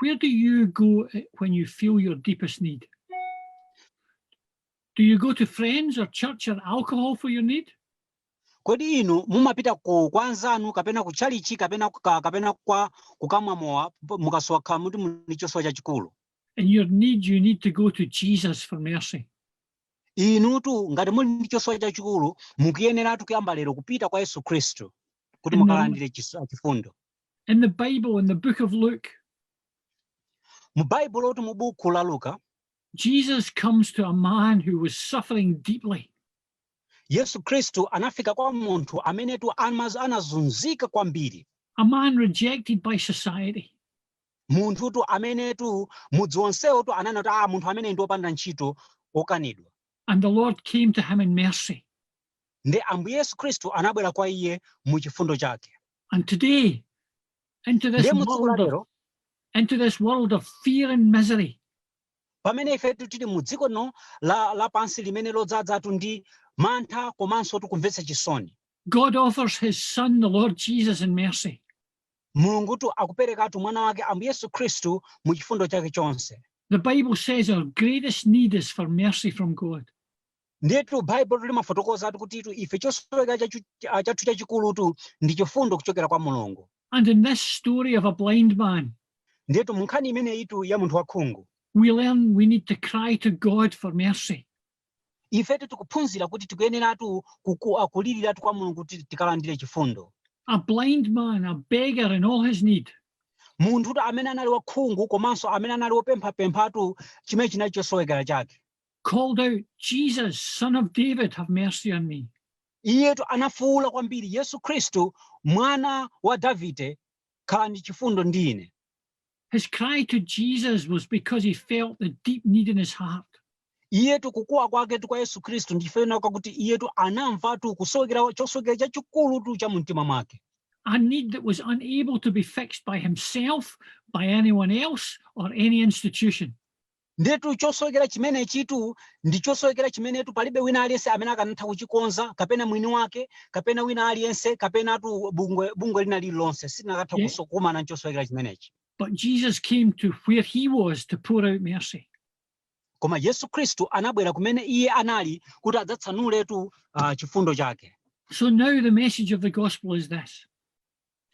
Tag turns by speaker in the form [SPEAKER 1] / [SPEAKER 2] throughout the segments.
[SPEAKER 1] Where
[SPEAKER 2] do you go eh, when you feel your deepest need? Do you go to friends or church or alcohol for your need? Kodi inu
[SPEAKER 1] mumapita ku kwa anzanu kapena ku chalichi kapena kuka, kapena kwa kukamwa mowa mukakhala kuti muli ndi chosowa chachikulu? In your
[SPEAKER 2] need you need to go to Jesus for mercy.
[SPEAKER 1] Inutu ngati muli ndi chosowa chachikulu mukuyeneratu kuyamba lero kupita kwa Yesu Kristu kuti mukalandire chifundo. In
[SPEAKER 2] the Bible, in the book of
[SPEAKER 1] Luke, mu baibulotu mu buku la luka
[SPEAKER 2] jesus comes to a man who was suffering deeply yesu
[SPEAKER 1] kristu anafika kwa munthu amenetu anazunzika kwambiri a
[SPEAKER 2] man rejected by society
[SPEAKER 1] munthutu amenetu mudzi wonsewotu ananena kuti ah munthu ameneyu ndi wopanda ntchito wokanidwa and the lord
[SPEAKER 2] came to him in mercy
[SPEAKER 1] ndiye ambuye yesu kristu anabwera kwa iye mu chifundo chake And
[SPEAKER 2] today, into this Ndiye mu tsiku la world of, lero into this world of fear and misery, pamene
[SPEAKER 1] ifetu tili mu dziko lino la- lapansi limene ladzadzatu ndi mantha komanso tikumvetsa chisoni God
[SPEAKER 2] offers his son, the Lord Jesus, in mercy.
[SPEAKER 1] mulungutu akuperekatu mwana wake ambuye yesu khristu mu chifundo chake chonse The Bible says
[SPEAKER 2] our greatest need is for mercy from God.
[SPEAKER 1] ndiyetu baibulo limafotokozatu kutitu ife chosowekera chachu- ah, chathu chachikulutu ndi chifundo kuchokera kwa mulungu And in
[SPEAKER 2] this story of a blind man, ndiyetu mu nkhani
[SPEAKER 1] imeneyitu ya munthu wakhungu we learn we
[SPEAKER 2] need to cry to God for mercy.
[SPEAKER 1] ifetu tikuphunzira kuti tikuyeneratu kuku- ah, kuliriratu kwa mulungu kuti tikalandire chifundo A
[SPEAKER 2] blind man, a beggar in all his need,
[SPEAKER 1] munthutu amene anali wakhungu komanso amene anali wopemphapemphatu chimene chinali chosowekera chake called
[SPEAKER 2] out, Jesus, son of David, have mercy on me.
[SPEAKER 1] iyetu anafuwula kwambiri yesu khristu mwana wa davide khalani ndi chifundo ndi ine His cry
[SPEAKER 2] to Jesus was because he felt the deep need in his heart. iyetu
[SPEAKER 1] kukuwa kwaketu kwa yesu khristu ndi chifukwa chakuti iyetu anamvatu kusowekera chosowekera chachikulutu cha mumtima mwake A need that
[SPEAKER 2] was unable to be fixed by himself, by anyone else, or any institution. Ndiyetu
[SPEAKER 1] chosowekera chimenechitu ndi chosowekera chimenetu palibe wina aliyense amene akanatha kuchikonza kapena mwini wake kapena wina aliyense kapenatu bungwe, bungwe lina lililonse silinakatha Yeah. kuso- kukumana ndi chosowekera chimenechi. But Jesus
[SPEAKER 2] came to where he was to pour out mercy. Koma
[SPEAKER 1] Yesu Khristu anabwera kumene iye anali kuti adzatsanuletu ah, chifundo chake. So now the
[SPEAKER 2] message of the gospel is this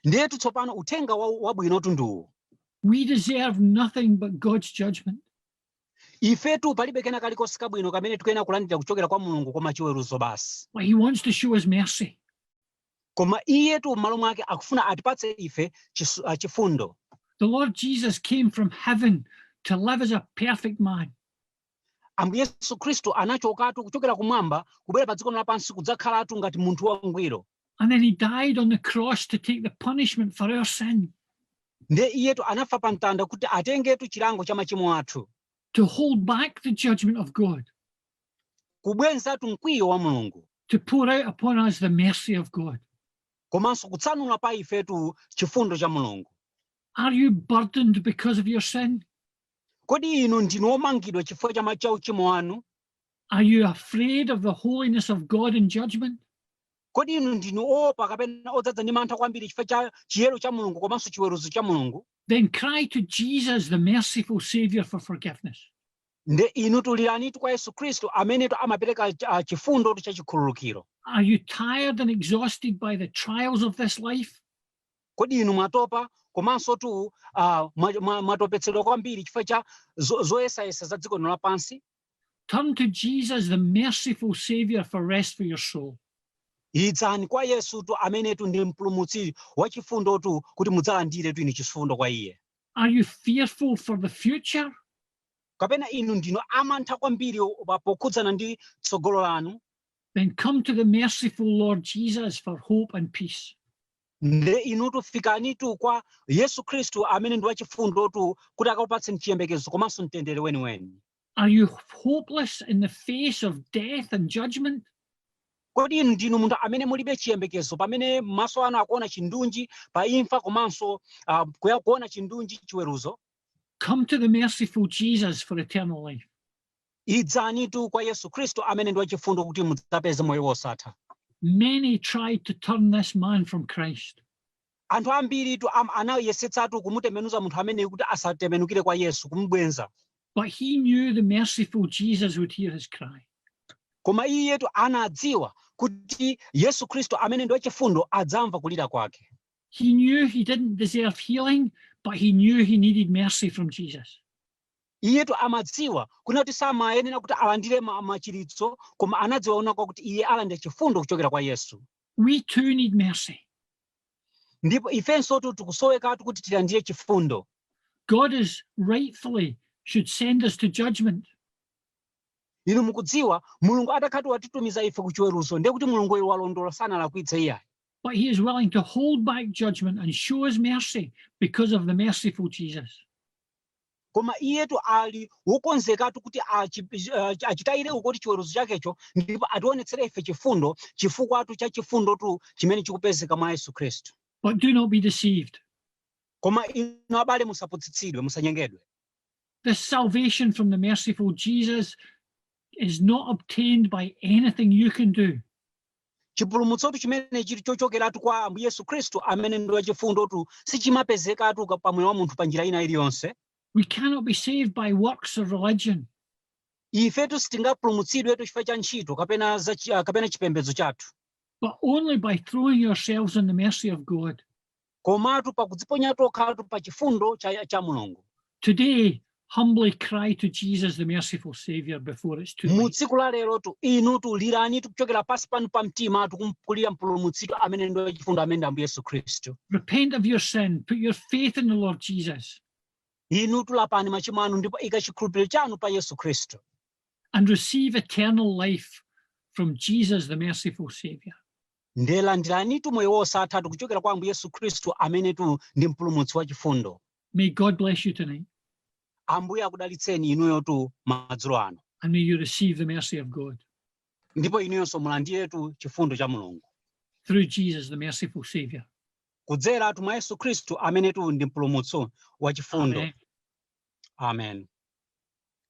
[SPEAKER 2] Ndiyetu
[SPEAKER 1] tsopano uthenga wa- wabwinotu ndi uwu We deserve
[SPEAKER 2] nothing but God's judgment. ifetu
[SPEAKER 1] palibe kena kalikonse kabwino kamene tikuyenera kulandira kuchokera kwa mulungu koma chiweruzo basi But He wants to show us
[SPEAKER 2] mercy. koma
[SPEAKER 1] iyetu m'malo mwake akufuna atipatse ife chisu- ah, chifundo The Lord
[SPEAKER 2] Jesus came from heaven to live as a perfect man.
[SPEAKER 1] ambuye yesu khristu anachokatu kuchokera kumwamba kubwera pa dziko lino lapansi kudzakhalatu ngati munthu wangwiro And then he
[SPEAKER 2] died on the cross to take the punishment for our sin, nde
[SPEAKER 1] iyetu anafa pa mtanda kuti atengetu chilango cha machimo athu to
[SPEAKER 2] hold back the judgment of
[SPEAKER 1] God, kubwezatu mkwiyo wa mulungu to pour out
[SPEAKER 2] upon us the mercy of God. komanso
[SPEAKER 1] kutsanula pa ifetu chifundo cha mulungu Are you
[SPEAKER 2] burdened because of your sin?
[SPEAKER 1] Kodi inu ndinu omangidwa chifukwa cha ma- cha uchimo wanu? Are
[SPEAKER 2] you afraid of the holiness of God in judgment? Kodi inu
[SPEAKER 1] ndinu oopa kapena odzadza ndi mantha kwambiri chifukwa cha chiyero cha Mulungu komanso chiweruzo cha Mulungu? Then cry
[SPEAKER 2] to Jesus, the merciful Savior, for forgiveness.
[SPEAKER 1] Nde inu liranitu kwa Yesu Khristu amenetu amapereka ah, chifundotu cha chikhululukiro. Are you tired
[SPEAKER 2] and exhausted by the trials of this life? Kodi
[SPEAKER 1] inu mwatopa komansotu uh, mwatopetsedwa kwambiri chifukwa cha zoyesayesa za dziko lino lapansi? Turn to
[SPEAKER 2] Jesus, the merciful Savior, for rest for your soul. Idzani
[SPEAKER 1] kwa Yesutu amenetu ndi mpulumutsi wachifundotu kuti mudzalandiretu inu chifundo kwa iye. Are you
[SPEAKER 2] fearful for the future?
[SPEAKER 1] Kapena inu ndinu amantha kwambiri pokhudzana ndi tsogolo lanu? Then come to
[SPEAKER 2] the merciful Lord Jesus for hope and peace.
[SPEAKER 1] Nde inutu fikanitu kwa Yesu Khristu amene ndi wachifundotu kuti akupatseni chiyembekezo komanso mtendere weniweni. Are
[SPEAKER 2] you hopeless in the face of death and judgment?
[SPEAKER 1] Kodi inu ndinu munthu amene mulibe chiyembekezo pamene maso anu akuona chindunji pa imfa komanso ah, kuya- kuona chindunji chiweruzo? Come to the
[SPEAKER 2] merciful Jesus for eternal life.
[SPEAKER 1] Idzanitu kwa Yesu Kristu amene ndi wachifundo kuti mudzapeze moyo wosatha.
[SPEAKER 2] Many tried to turn this man from Christ. Anthu
[SPEAKER 1] ambiritu am- anayesetsatu kumutembenuza munthu ameneyu kuti asatembenukire kwa Yesu, kumubweza. But he
[SPEAKER 2] knew the merciful Jesus would hear his cry. Koma
[SPEAKER 1] iyetu anadziwa kuti Yesu Kristu amene ndi wachifundo adzamva kulira kwake. He knew he
[SPEAKER 2] didn't deserve healing, but he knew he needed mercy from Jesus.
[SPEAKER 1] Iyetu amadziwa, kunena kuti samayenera kuti alandire ma, machiritso, koma anadziwa kunena kwakuti iye alandira chifundo kuchokera kwa Yesu. We too need
[SPEAKER 2] mercy.
[SPEAKER 1] Ndipo ifensotu tikusowekatu kuti tilandire chifundo. God is
[SPEAKER 2] rightfully should send us to
[SPEAKER 1] judgment. Inu mukudziwa, Mulungu atakhala kuti watitumiza ife ku chiweruzo, ndiye kuti Mulunguyo walondola sanalakwitse iyayi. But he is willing
[SPEAKER 2] to hold back judgment and show us mercy because of the merciful Jesus.
[SPEAKER 1] koma iyetu ali wokonzekatu kuti achi- achi- achitayire ukoti chiweruzo chakecho ndipo ationetsere ife chifundo chifukwatu cha chifundotu chimene chikupezeka mwa yesu khristu But do not be
[SPEAKER 2] deceived. koma
[SPEAKER 1] inu abale musaputsitsidwe musanyengedwe This
[SPEAKER 2] salvation from the merciful Jesus is not obtained by anything you can do.
[SPEAKER 1] chipulumutsotu chimene chili chochokeratu kwa ambuye yesu khristu amene ndi wachifundotu sichimapezekatu ka- pa moyo wa munthu pa njira ina iliyonse We cannot be
[SPEAKER 2] saved by works of religion.
[SPEAKER 1] ifetu sitingapulumutsidwetu chifukwa cha ntchito kapena za chi- ah, kapena chipembedzo chathu but only
[SPEAKER 2] by throwing yourselves on the mercy of God.
[SPEAKER 1] komatu pakudziponya tokhatu pa chifundo cha, cha mulungu
[SPEAKER 2] Today, humbly cry to Jesus, the merciful Savior, before it's too late. Mu tsiku la lerotu
[SPEAKER 1] inutu lirani kuchokera pansi panu pa mtimatu kumulirira mpulumutsitu amene ndi wachifundo amene ndi ambuye yesu khristu Repent of your
[SPEAKER 2] sin. Put your faith in the Lord Jesus
[SPEAKER 1] inutu lapani machimo anu ndipo ika chikhulupiriro chanu pa yesu khristu and receive
[SPEAKER 2] eternal life from Jesus, the merciful Savior. Nde landiranitu
[SPEAKER 1] moyo wosathatu kuchokera kwa Ambuye Yesu Khristu amenetu ndi mpulumutsi wachifundo. May God bless
[SPEAKER 2] you tonight. Ambuye
[SPEAKER 1] akudalitseni inuyotu madzulo ano. And may you receive the
[SPEAKER 2] mercy of God. Ndipo inuyonso
[SPEAKER 1] mulandiretu chifundo cha Mulungu. Through Jesus
[SPEAKER 2] the merciful Savior. Kudzeratu
[SPEAKER 1] mwa Yesu Khristu amenetu ndi mpulumutsi wachifundo. Amen. Amen.